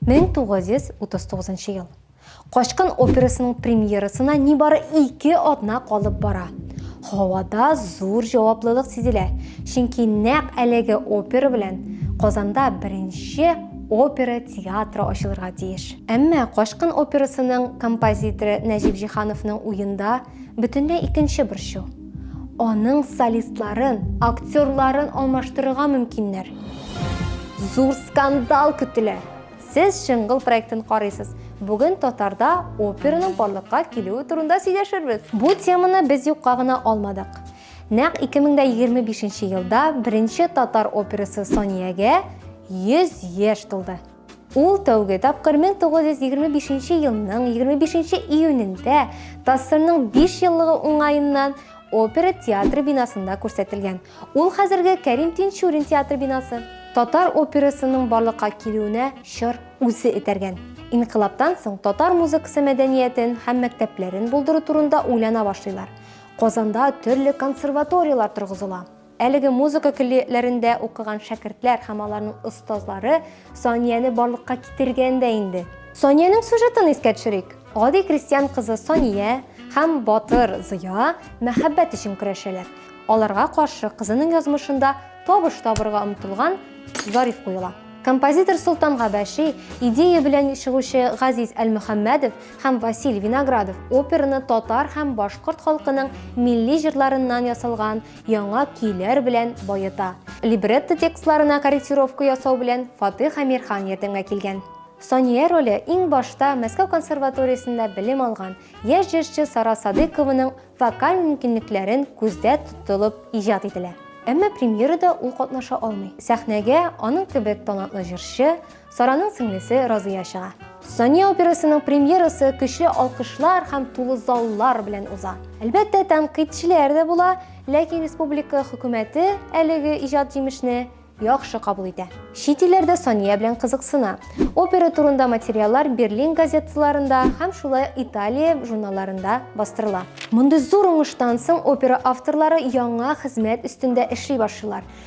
Мең тугыз йөз утыз тугызынчы ел. Качкын операсының премьерасына нибары ике атна калып бара. Һавада зур җаваплылык сизелә, чөнки нәкъ әлеге опера белән Казанда беренче опера театры ачылырга тиеш. Әмма Качкын операсының композиторы Нәҗип Җиһановның уенда бөтенләй икенче борчу. Аның солистларын, актерларын алмаштырырга мөмкиннәр. Зур скандал көтелә! Сез Шыңгыл проектын карыйсыз. Бүген Татарда операның барлыкка килүе турында сөйләшербез. Бу теманы без юкка гына алмадык. Нәкъ 2025 елда беренче татар операсы Саниягә 100 яшь тулды. Ул тәүге тапкыр 1925 елның 25 июнендә ТАССРның 5 еллыгы уңаеннан опера театры бинасында күрсәтелгән. Ул хәзерге Кәрим Тинчурин театры бинасы. Татар операсының барлыкка килүенә чор үзе этәргән. Инкыйлабтан соң татар музыкасы мәдәниятен һәм мәктәпләрен булдыру турында уйлана башлыйлар. Казанда төрле консерваторияләр торгызыла. Әлеге музыка көллиятләрендә укыган шәкертләр һәм аларның остазлары Санияне барлыкка китергән дә инде. Саниянең сюжетын искә төшерик. Гади крестьян кызы Сания һәм батыр Зыя мәхәббәт өчен көрәшәләр. Аларга каршы кызының язмышында табыш табырга омтылган Зариф куела. Композитор Солтан Габәши идея белән чыгучы Газиз Әлмөхәммәдов һәм Василь Виноградов операны татар һәм башкорт халкының милли җырларыннан ясалган яңа көйләр белән баета. Либретто текстларына корректировка ясау белән Фатих Амирхан ярдәмгә килгән. Сания роле иң башта Мәскәү консерваториясендә белем алган яшь җырчы Сара Садыйкованың вокаль мөмкинлекләрен күздә тотылып иҗат ителә. Әмма премьерада ул катнаша алмый. Сәхнәгә аның кебек талантлы җырчы, Сараның сеңлесе Разыя чыга. Сания операсының премьерасы көчле алкышлар һәм тулы заллар белән уза. Әлбәттә, тәнкыйтьчеләр дә була, ләкин республика хөкүмәте әлеге иҗат җимешне яхшы кабул итә. Чит илләрдә Сания белән кызыксына. Опера турында материаллар Берлин газеталарында һәм шулай Италия журналларында бастырыла. Мондый зур уңыштан соң опера авторлары яңа хезмәт өстендә эшли башлыйлар.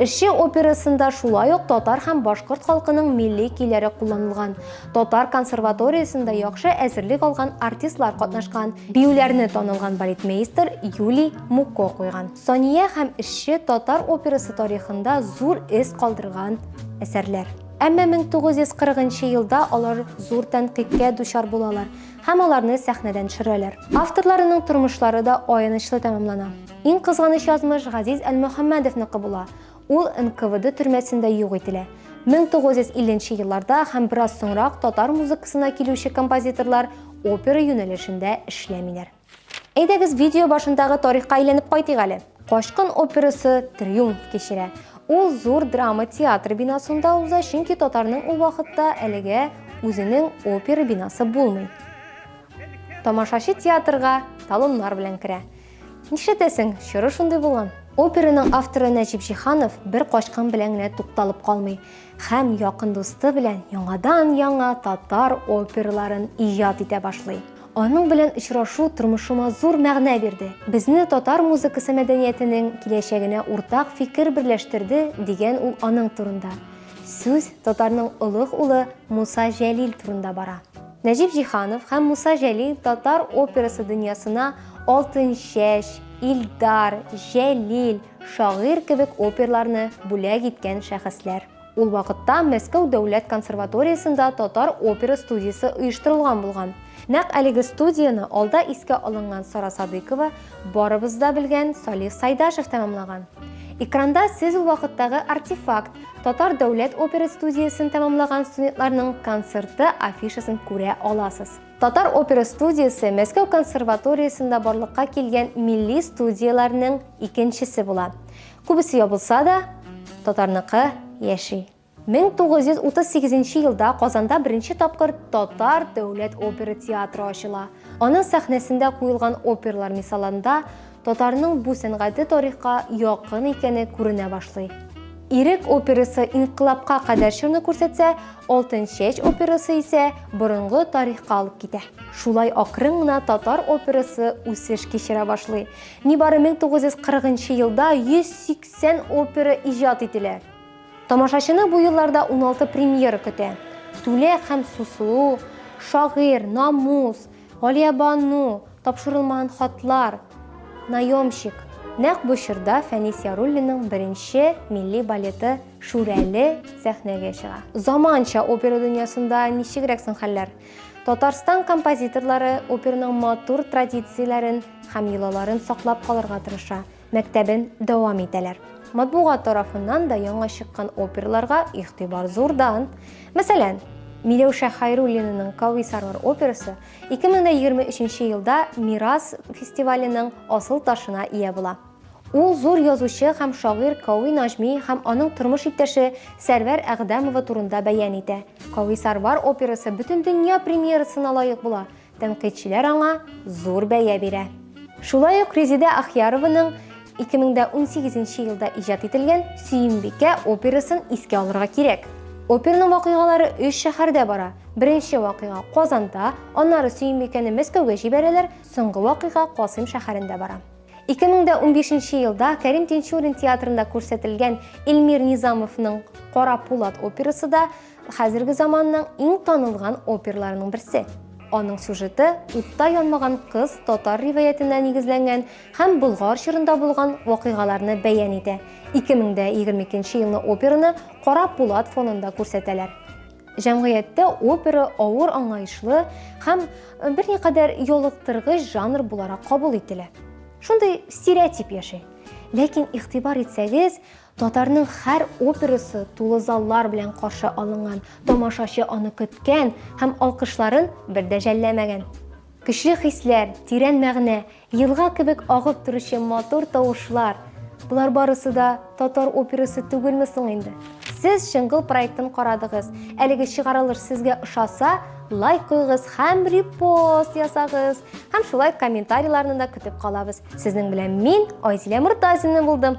Эшче операсында шулай ук татар һәм башкорт халкының милли көйләре кулланылган. Татар консерваториясендә яхшы әзерлек алган артистлар катнашкан. Биюләрне танылган балетмейстер Юлий Муко куйган. Сания һәм Эшче татар операсы тарихында зур эз калдырган әсәрләр. Әмма 1940 елда алар зур тәнкыйтькә дучар булалар һәм аларны сәхнәдән төшерәләр. Авторларының тормышлары да аянычлы тәмамлана. Иң кызганыч язмыш Газиз Әлмөхәммәдовныкы була. Ул НКВД төрмәсендә юк ителә. 1950 нче елларда һәм бераз соңрак татар музыкасына килүче композиторлар опера юнәлешендә эшләмиләр. Әйдәгез видео башындагы тарихка әйләнеп кайтыйк әле. Качкын операсы триумф кичерә. Ул зур драма театры бинасында уза, чөнки татарның ул вакытта әлегә үзенең опера бинасы булмый. Тамашачы театрга талоннар белән керә. Нишләтәсең, чоры шундый булган. Операның авторы Нәҗип Җиһанов бер качкын белән генә тукталып калмый һәм якын дусты белән яңадан-яңа татар оперларын иҗат итә башлый. Аның белән очрашу тормышыма зур мәгънә бирде. Безне татар музыкасы мәдәниятенең киләчәгенә уртак фикер берләштерде, дигән ул аның турында. Сүз татарның олуг улы Муса Җәлил турында бара. Нәҗип Җиһанов һәм Муса Җәлил татар операсы дөньясына Алтынчәч, Илдар, Җәлил, Шагыйрь кебек оперларны бүләк иткән шәхесләр. Ул вакытта Мәскәү дәүләт консерваториясендә татар опера студиясе оештырылган булган. Нәкъ әлеге студияне алда искә алынган Сара Садыйкова, барыбыз да белгән Салих Сайдашев тәмамлаган. Экранда сез ул вакыттагы артефакт, татар дәүләт опера студиясен тәмамлаган студентларның концерты афишасын күрә аласыз. Татар опера студиясе Мәскәү консерваториясендә барлыкка килгән милли студияләрнең икенчесе була. Күбесе ябылса да, татарныкы яши. 1938 елда Казанда беренче тапкыр Татар дәүләт опера театры ачыла. Аның сәхнәсендә куелган оперлар мисалында Татарның бу сәнгате тарихка якын икәне күренә башлый. Ирек операсы инкыйлабка кадәр чорны күрсәтсә, Алтын чәч операсы исә борынгы тарихка алып китә. Шулай акрын гына татар операсы үсеш кичерә башлый. Нибары 1940 нчы елда 180 опера иҗат ителә. Тамашачыны бу елларда 16 премьера көтә. Түлә һәм Сусылу, Шагыйрь, Намус, Галиябану, тапшырылмаган хатлар, наемщик. Нәкъ бу чорда Фәнис Яруллинның беренче милли балеты Шүрәле сәхнәгә чыга. Заманча опера дөньясында ничегрәк соң хәлләр? Татарстан композиторлары операның матур традицияләрен һәм йолаларын саклап калырга тырыша. мәктәбен дәвам итәләр. Матбугат тарафыннан да яңа чыккан оперларга игътибар зурдан. Мәсәлән, Миләүшә Хайруллинаның Кависарлар операсы 2023 елда Мирас фестиваленең асыл ташына ия була. Ул зур язучы һәм шагыйрь Кави Нажми һәм аның тормыш иптәше Сәрвәр Әгъдәмова турында бәян итә. Кависарвар операсы бөтендөнья премьерасына лаек була. Тәнкыйтьчеләр аңа зур бәя бирә. Шулай ук Резидә Ахьярованың 2018 елда иҗат ителгән Сөембикә операсын искә алырга кирәк. Оперның вакыйгалары өч шәһәрдә бара. Беренче вакыйга Казанда, аннары Сөембикәне Мәскәүгә җибәрәләр, соңгы вакыйга Касыйм шәһәрендә бара. 2015 елда Кәрим Тинчурин театрында күрсәтелгән Эльмир Низамовның Кара пулат операсы да Хәзерге заманның иң танылган оперларының берсе. Аның сюжеты утта янмаган кыз татар риваятенә нигезләнгән һәм Болгар чорында булган вакыйгаларны бәян итә. 2022 елны операны кара пулат фонында күрсәтәләр. Җәмгыятьтә опера авыр аңлаешлы һәм берникадәр ялыктыргыч жанр буларак кабул ителә. Шундый стереотип яши. Ләкин игътибар итсәгез, Татарның һәр операсы тулы заллар белән каршы алынган, тамашачы аны көткән һәм алкышларын бер дә жәлләмәгән. Көчле хисләр, тирән мәгънә, елга кебек агып торучы матур тавышлар, болар барысы да татар операсы түгелме соң инде? Сез Чыңгыл проектын карадыгыз. Әлеге чыгарылыш сезгә ошаса, лайк куйгыз һәм репост ясагыз. Һәм шулай комментарийларны да көтеп калабыз. Сезнең белән мин, Айзилә Мортазина булдым.